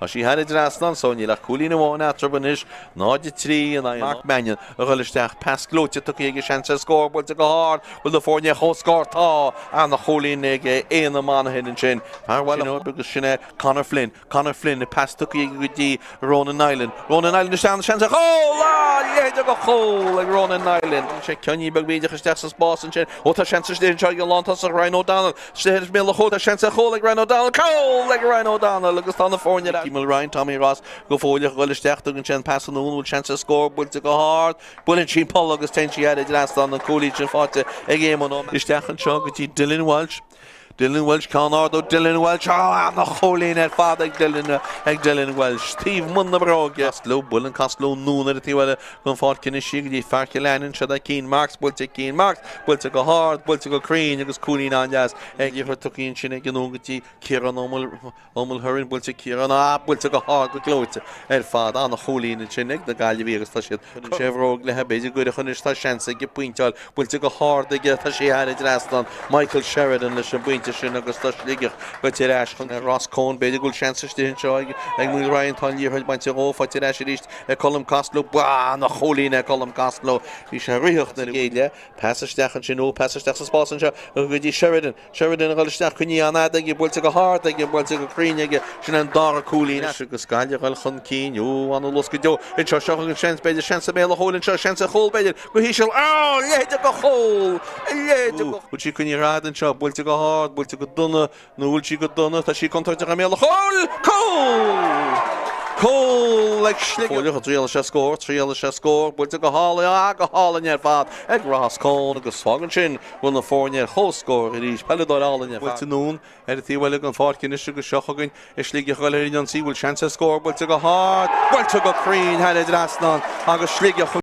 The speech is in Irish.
Tá sí thar an trasnán so, níl ach cúilín amháin eatarthu anois, 0-3 in aghaidh Mark Mannion a ghoil isteach, pas gleoite tugtha aige seans ar scór buailte go hard, bhfuil na foirne ar chomhscór? Tá! An-chúilín ag Éanna Monaghan ansin, fear Bhaile Ghib agus sin é Conor Flynn, Conor Flynn, pas tugtha aige go dtí Ronan Nilan, Ronan Nilan isteach agus seans ar chúl! A leithéid de chúl ag Ronan Nilan! Bhain sé ceainnín beag bídeach isteach sa spás ansin, ó tá seans anois anseo ag an lántosach Ryan O'Donnell, Istigh i mbéal an chúil Tá seans ar chúl ag Ryan O'Donnell Cúl ag Ryan O'Donnell agus tá na foirne ar ais. Míol Ryan Tommy Ross go fóill ag dhul isteach Tugann sé an pas anonn an bhfuil seans ar scór buailte go hard Buaileann sí an polla agus téann sí thar an trasnán an cúilín sin faighte ag Éamonn Ó Isteach anseo go dtí Dylan Walsh Dylan Walsh Ceann ard ó Dylan Walsh Ó An-chúilín ar fad ag Dylan ag Dylan Walsh taobh amuigh den bhróg Castello Buaileann Castello anonn ar an taobh eile den pháirc anois í go dtí Fear Chill Aininn, seo é Keane Marks buailte Keane Marks buailte go hard, buailte go cruinn agus cúilín an-deas ag Iarthar Tuaiscirt ansin ag goil anonn go dtí Kieran Ó Mulherin buailte Kieran buailte go hard go gleoite ar fad an-chúilín ansin ag na Gaillimhigh agus tá siad chun sé bhróg chlé b'fhéidir go cruinn anois tá seans aige pointeáil buailte go hard aige tá sé thar an trasnán Michael Sheridan leis an bpointe sin agus tá Sligeach tagtha ar ais chun ar Ross Coen b'fhéidir go bhfuil seans istigh anseo ag ag Muil Ryan tá an liathróid bainte dhó fáilte ar ais arís e Colm Costello Ba an-chúilín é Colm Costello. Bhí sé ag troid lena chéile. Pas isteach ansin Ó, pas isteach sa spás anseo go go dtí Sheridan. Sheridan a dhul isteach cic an-fhada aige, buailte go hard aige, buailte go cruinn aige. Sin an dara cúilín anois agus Gaillimh a dhul chun cinn. Ó, an-luas go deo anseo. Seo chugainn seans, b'fhéidir, seans sa mbéal an chúil anseo, seans ar chúl, b'fhéidir, go híseal. Á, a leithéid de chúl. Ó, a leithéid de. Buailtí go ní rad anseo, buailte go hard, buailte go dona. Ní bhfuil sí go dona, tá sí contúirteach i mbéal an chúil! Cúl ag Sligeach! Fuaireadar a dtriail sa scór, triail sa scór buailte go hálainn, ah, go hálainn ar fad ag Ross Cohn agus fágann sin go bhfuil na foirne ar chomhscór arís. Peileadóir álainn ar fad. Buailte anonn ar an taobh eile den pháirc anois agus seo chugainn Sligeach ag goil ar an ionsaí, bhfuil seans ar scór, buailte go hard, buailte go cruinn thar an trasnán agus Sligeach chun.